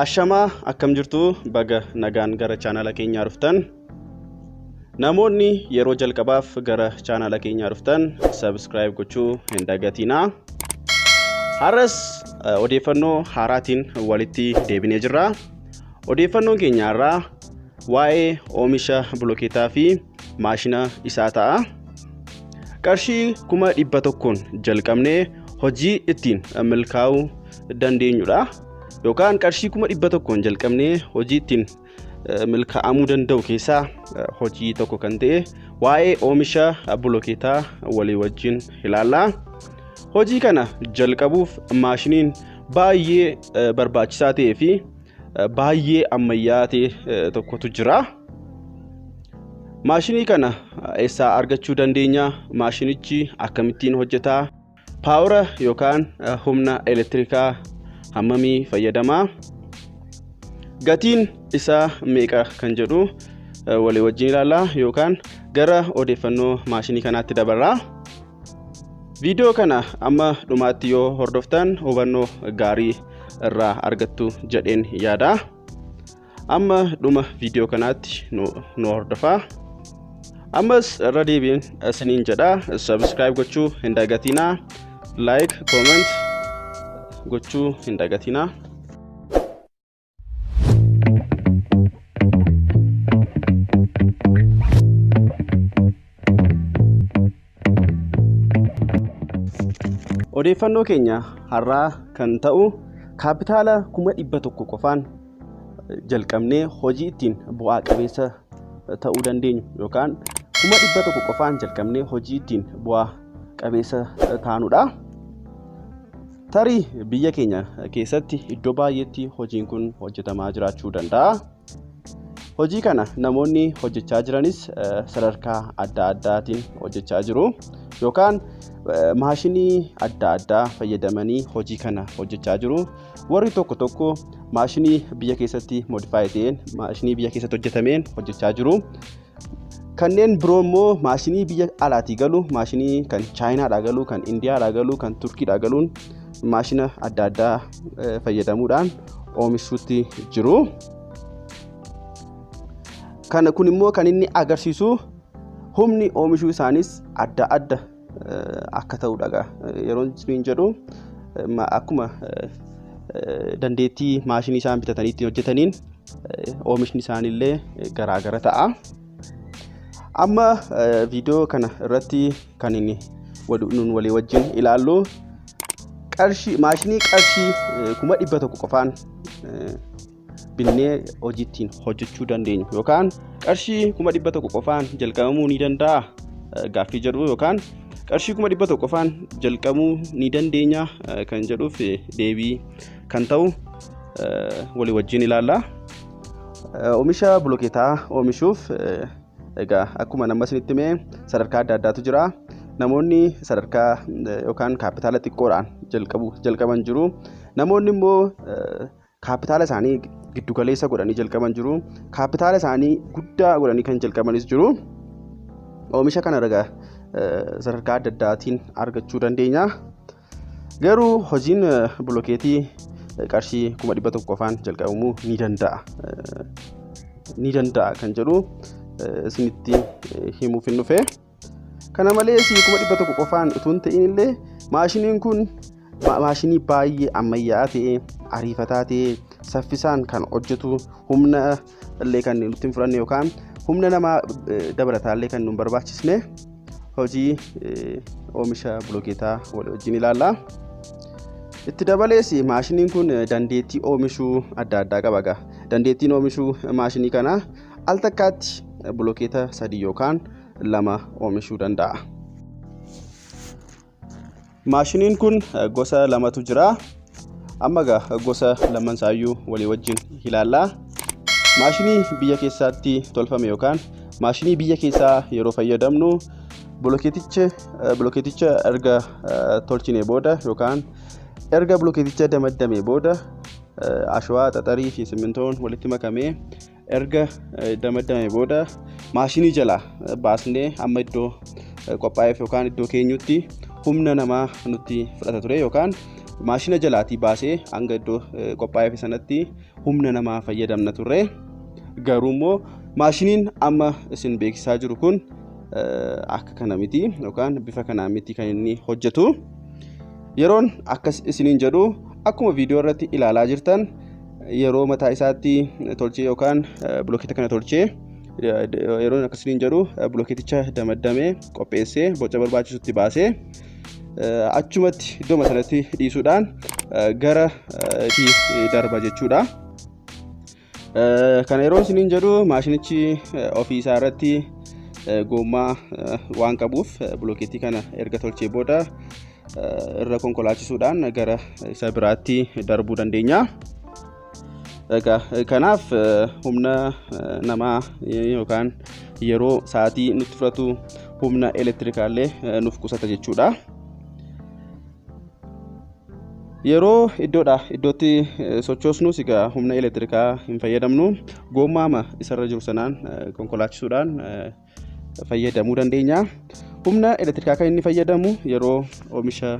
Ashamaa akkam jirtu baga nagaan gara chaanala keenyaa dhuftan. Namoonni yeroo jalqabaaf gara chaanala keenyaa dhuftan subscribe gochuu hin dagatinaa. Har'as eh, odeeffannoo haaraatiin walitti deebinee jirra. Odeeffannoon keenya har'aa waa'ee oomisha bilokeetaa fi maashina isaa ta'a. Qarshii kuma dhibba tokkoon jalqabnee hojii ittiin milkaa'uu dandeenyudha. Yookaan qarshii kuma dhibba tokkoon jalqabnee hojii ittiin milkaa'amuu danda'u keessaa hojii tokko kan ta'e waa'ee oomisha bilokeetaa walii wajjin ilaalla. Hojii kana jalqabuuf maashiniin baay'ee barbaachisaa ta'ee fi baay'ee ammayyaa ta'e tokkotu jira. Maashinii kana eessaa argachuu dandeenya? Maashinichi akkamittiin hojjeta? Paawura yookaan humna elektirikaa hammamii fayyadama? Gatiin isaa meeqa kan jedhu walii wajjin ilaalla yookaan gara odeeffannoo maashinii kanaatti dabarra. Viidiyoo kana amma dhumaatti yoo hordoftan hubannoo gaarii irraa argattu jedheen yaada amma dhuma viidiyoo kanaatti nu hordofaa ammas irra deebiin isiniin jedha sabiskiraayib gochuu hin dagatinaa laayik kooment gochuu hin dagatinaa Thank you. Odeeffannoo keenya har'aa kan ta'u kaapitaala kuma dhibba tokko qofaan jalqabnee hojii ittiin bu'aa qabeessa ta'uu dandeenyu yookaan kuma dhibba tokko qofaan jalqabnee hojii ittiin bu'aa qabeessa taanudha. Tarii biyya keenya keessatti iddoo baay'eetti hojiin kun hojjetamaa jiraachuu danda'a. Hojii kana namoonni hojjechaa jiranis sadarkaa adda addaatiin hojjechaa jiru yookaan maashinii adda addaa fayyadamanii hojii kana hojjechaa jiru. Warri tokko tokko maashinii biyya keessatti modifaayi ta'een maashinii biyya keessatti hojjetameen hojjechaa jiru. Kanneen biroo immoo maashinii biyya alaatii galu, maashinii kan Chaayinaadhaa galu, kan Indiyaadhaa galu, kan Turkiidhaa galuun maashina adda addaa fayyadamuudhaan oomishuutti jiru. Kana kun immoo kan inni agarsiisu humni oomishuu isaanis adda adda akka ta'udha egaa. Yeroon isiniin jedhu ma- akkuma eh, dandeettii maashinii isaan bitatanii ittiin hojjetaniin eh, oomishni isaaniillee eh, garaagara ta'a. Amma eh, viidiyoo kana irratti kan inni wal- nuun walii wajjin ilaallu qarshii maashinii qarshii eh, kuma dhibba tokko qofaan eh, binnee hojii ittiin hojjechuu dandeenyu yookaan qarshii kuma dhibba tokko qofaan jalqabamuu ni danda'a gaaffii jedhu yookaan qarshii kuma dhibba tokko qofaan jalqabuu ni dandeenya kan jedhuuf deebii kan ta'u walii wajjin ilaalla. Oomisha bilokeetaa oomishuuf egaa akkuma nama isinitti himee sadarkaa adda addaatu jira. Namoonni sadarkaa yookaan kaapitaala xiqqoodhaan jalqabu jalqaban jiru. Namoonni immoo kaappitaala isaanii giddu galeessa godhanii jalqaban jiru. Kaappitaala isaanii guddaa godhanii kan jalqabanis jiru. Oomisha kana ragaa sadarkaa adda addaatiin argachuu dandeenya. Garuu hojiin bilokeetii qarshii kuma dhibba tokko afaan jalqabamuu ni danda'a. Ni danda'a kan jedhu isinitti himuuf hin dhufe. Kana malees kuma dhibba tokko qofaan utuu hin ta'in illee maashiniin kun maashinii baay'ee ammayyaa'aa ta'e ariifataa ta'e saffisaan kan hojjetu humna illee kan nutti hin fudhanne yookaan humna namaa dabalataa illee kan nu hin barbaachisne hojii oomisha bilookeetaa walii wajjin ilaalla. Itti dabalees maashiniin kun dandeettii oomishuu adda addaa qaba. Dandeettiin oomishuu maashinii kanaa al takkaatti bilokeeta sadii yookaan lama oomishuu danda'a. Maashiniin kun gosa lamatu jira. Amma egaa gosa laman isaayyuu walii wajjin ilaalla. Maashinii biyya keessaatti tolfame yookaan maashinii biyya keessaa yeroo fayyadamnu bilokeeticha bilokeeticha erga tolchine booda yookaan erga bilokeeticha damaddame booda ashawaa xaxarii fi simmintoon walitti makamee erga damaddame booda maashinii jalaa baasnee amma iddoo qophaa'eef yookaan iddoo keenyutti humna namaa nutti fudhata ture yookaan maashina jalaatii baasee hanga iddoo qophaa'eef sanatti humna namaa fayyadamna turre garuu immoo maashiniin amma isin beeksisaa jiru kun akka kana miti yookaan bifa kanaa miti kan inni hojjetu yeroon akkas isiniin jedhu akkuma viidiyoo irratti ilaalaa jirtan yeroo mataa isaatti tolchee yookaan bilokeeta kana tolchee yeroon akkasiin jedhu bilokeeticha damaddamee qopheessee boca barbaachisutti baasee achumatti iddoo sanatti dhiisuudhaan gara itti darba jechuudha. Kana yeroon isiniin jedhu maashinichi ofii isaa irratti goommaa waan qabuuf bilokeetii kana erga tolchee booda irra konkolaachisuudhaan gara isa biraatti darbuu dandeenya. Egaa kanaaf humna namaa yookaan yeroo sa'aatii nutti fudhatu humna elektirikaallee nuuf qusata jechuudha. Yeroo iddoodha iddootti sochoosnus egaa humna elektirikaa hin fayyadamnu. Goommaama isarra jiru sanaan konkolaachisuudhaan fayyadamuu dandeenya. Humna elektirikaa kan inni fayyadamu yeroo oomisha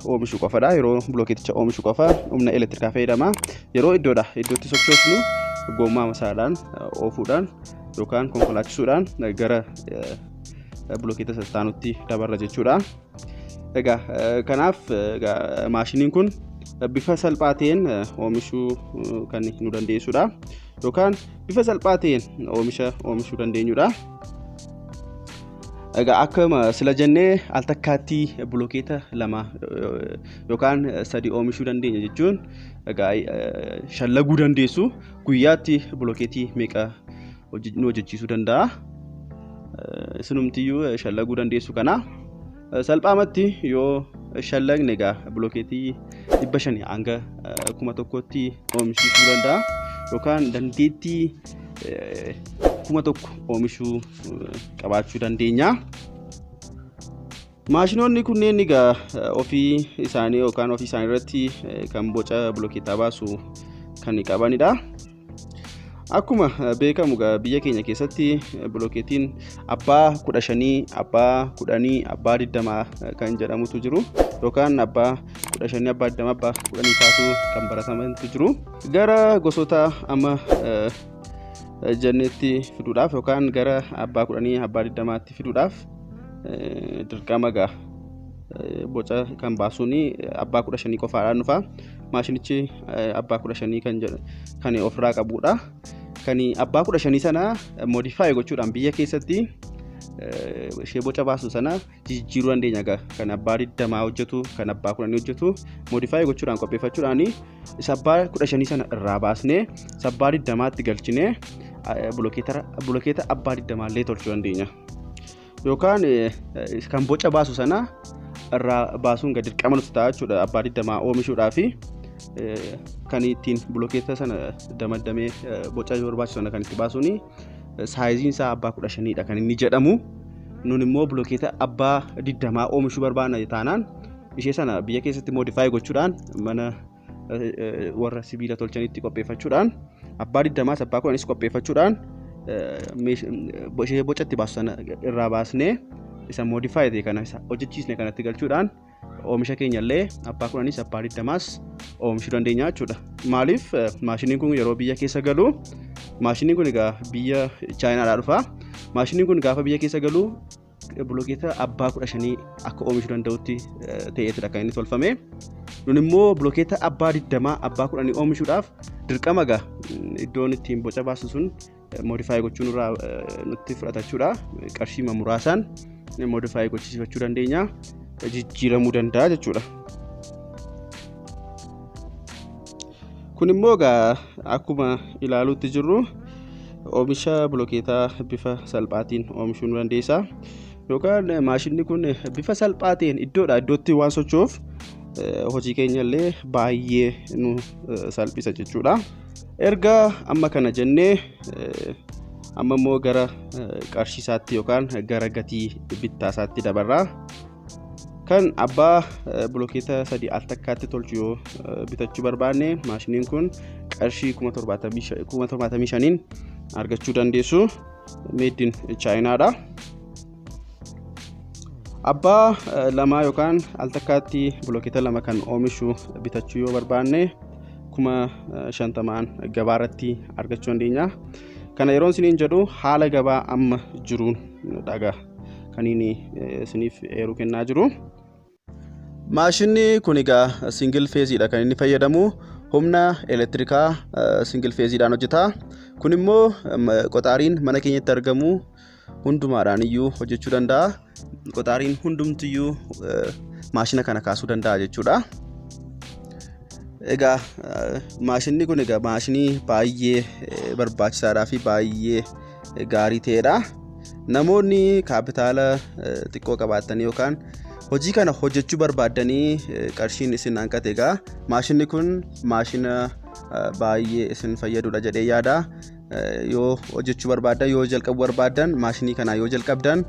oomishu qofadha. Yeroo bilookeeticha oomishu qofa humna elektirikaa fayyadama. Yeroo iddoodha iddootti sochoosnu gommaa masaadhaan oofuudhaan yookaan konkolaachisuudhaan gara bilookeeta sassaanutti dabarra jechuudha. Egaa kanaaf maashiniin kun bifa salphaa ta'een oomishuu kan nu dandeessudha. yookaan bifa salphaa ta'een oomisha oomishuu dandeenyudha. Egaa akkuma sila jennee al takkaatti bilokeeta lama yookaan sadii oomishuu dandeenya jechuun egaa shallaguu dandeessu guyyaatti bilokeetii meeqa nu hojjechiisuu danda'a. Isinumtiyyuu shallaguu dandeessu kana. Salphaamatti yoo shallagne egaa bilookeetii dhibba shanii hanga kuma tokkotti oomishuu danda'a yookaan dandeettii kuma tokko oomishuu qabaachuu dandeenya. Maashinoonni kunneen egaa ofii isaanii yookaan ofii isaanii irratti kan boca bilookeetaa baasu kan qabanidha. Akkuma beekamu egaa biyya keenya keessatti bilookeetiin abbaa kudha shanii, abbaa kudhanii, abbaa digdamaa kan jedhamutu jiru. Yookaan abbaa kudha shanii, abbaa digdamaa, abbaa kudhanii kaasuu kan baratamantu jiru. Gara gosoota amma eh, jennetti fiduudhaaf yookaan gara abbaa kudhanii, abbaa digdamaatti fiduudhaaf eh, dirqama egaa eh, boca kan baasuun abbaa kudha shanii qofaadhaan dhufa. maashinichi abbaa kudha shanii kan jedhu kan ofirraa qabudha. Kan abbaa kudha shanii sana modifaayi gochuudhaan biyya keessatti ishee boca baasu sana jijjiiruu dandeenya egaa kan abbaa digdamaa hojjetu kan abbaa kudhanii hojjetu modifaayi gochuudhaan qopheeffachuudhaan isa abbaa kudha shanii sana irraa baasnee isa abbaa digdamaatti galchinee bulokeeta abbaa digdamaa illee tolchuu dandeenya. yookaan kan boca baasu sana irraa baasuun gadi dirqama nutti ta'a jechuudha abbaa digdamaa oomishuudhaa fi kan ittiin bilokeeta sana damaddamee boca yoo barbaachisu sana kan itti baasuun saayiziin isaa abbaa kudha shaniidha kan inni jedhamu nun immoo bilokeeta abbaa digdamaa oomishuu barbaadna taanaan ishee sana biyya keessatti moodifaayi gochuudhaan mana warra sibiila tolchanitti qopheeffachuudhaan abbaa digdamaas abbaa kudhanis qopheeffachuudhaan ishee bocatti baasu sana irraa baasnee isa modify ta'e kana hojjechiisne kanatti galchuudhaan oomisha keenya illee abbaa kudhanis abbaa digdamaas oomishuu dandeenya jechuudha. Maaliif maashiniin kun yeroo biyya keessa galu maashiniin kun egaa biyya chaayinaadhaa dhufa. Maashiniin kun gaafa biyya keessa galu Bilokeeta abbaa kudha shanii akka oomishuu danda'utti ta'eetidha kan inni tolfame. Nun immoo bilokeeta abbaa digdamaa abbaa kudhanii oomishuudhaaf dirqama gaa iddoon ittiin boca baasu sun moodifaayi gochuun irraa nutti fudhata jechuudha. Qarshiima muraasaan moodifaayi gochisiifachuu dandeenya. Jijjiiramuu danda'a jechuudha. Kun immoo egaa akkuma ilaaluutti jirru oomisha bilokeetaa bifa salphaatiin oomishuu nu dandeessa. Yookaan maashinni kun bifa salphaa ta'een iddoodhaa iddootti waan socho'uuf hojii keenya illee baay'ee nu salphisa jechuudha. Erga amma kana jennee amma immoo gara qarshiisaatti yookaan gara gatii bittaasaatti dabarra. kan abbaa bilokeeta sadii al takkaatti tolchu yoo bitachuu barbaanne maashiniin kun qarshii 75,000n argachuu dandeessu meeddiin chaayinaadha. Abbaa lamaa yookaan al takkaatti bilokeeta lama kan oomishu bitachuu yoo barbaanne kuma shantamaan gabaa irratti argachuu dandeenya. Kana yeroon isiniin jedhu haala gabaa amma jiruun dhagaa. kan inni isiniif eeruu kennaa jiru. Maashinni kun egaa singil feeziidha kan inni fayyadamu humna elektirikaa singil feeziidhaan hojjeta. Kun immoo qoxaariin mana keenyatti argamu hundumaadhaan iyyuu hojjechuu danda'a. Qoxaariin hundumti iyyuu maashina kana kaasuu danda'a jechuudha. Egaa maashinni kun egaa maashinii baay'ee barbaachisaadhaa fi baay'ee gaarii ta'edha. Namoonni kaapitaala xiqqoo qabaatanii yookaan hojii kana hojjechuu barbaaddanii qarshiin isin hanqate egaa maashinni kun maashina baay'ee isin fayyadudha jedhee yaada. yoo hojjechuu barbaadan yoo jalqabu barbaadan maashinii kanaa yoo jalqabdan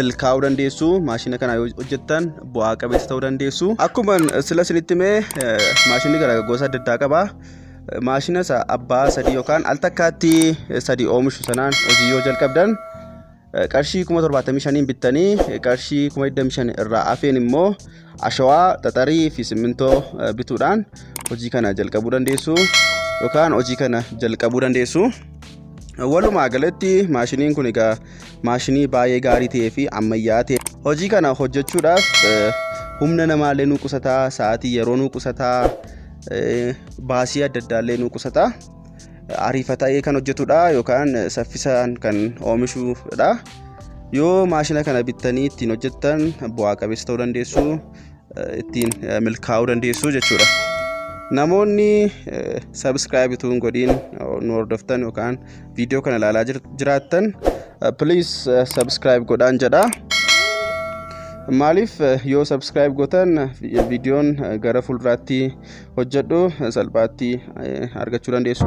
milkaa'uu dandeessu maashina kanaa yoo hojjettan bu'aa qabeessa ta'uu dandeessu akkuma sila isinitti mee maashinii gara gosa adda addaa qaba maashina isa abbaa sadii yookaan al takkaatti sadii oomishu sanaan hojii yoo jalqabdan eh, qarshii kuma torbaatamii shaniin bittanii eh, qarshii kuma digdamii shan irraa hafeen immoo ashawaa xaxarii fi simmintoo eh, bituudhaan hojii kana jalqabuu dandeessu yookaan hojii kana jalqabuu dandeessu. Walumaa galatti maashiniin kun egaa maashinii baay'ee gaarii ta'ee fi ammayyaa ta'e hojii kana hojjechuudhaaf eh, humna namaallee nu qusataa sa'aatii yeroo nu qusataa baasii adda addaa illee nu qusata ariifata'ee kan hojjetudha yookaan saffisaan kan oomishudha yoo maashina kana bittanii ittiin hojjettan bu'aa qabeessa ta'uu dandeessu ittiin milkaa'uu dandeessu jechuudha namoonni sabiskiraayib utuu hin godhiin nu hordoftan yookaan viidiyoo kana ilaalaa jir- jiraattan please subscribe godhaan jedha maaliif eh, yoo subscribe gootan eh, vi- viidiyoon eh, gara fuulduraatti hojjedhu eh, salphaatti eh, argachuu dandeessu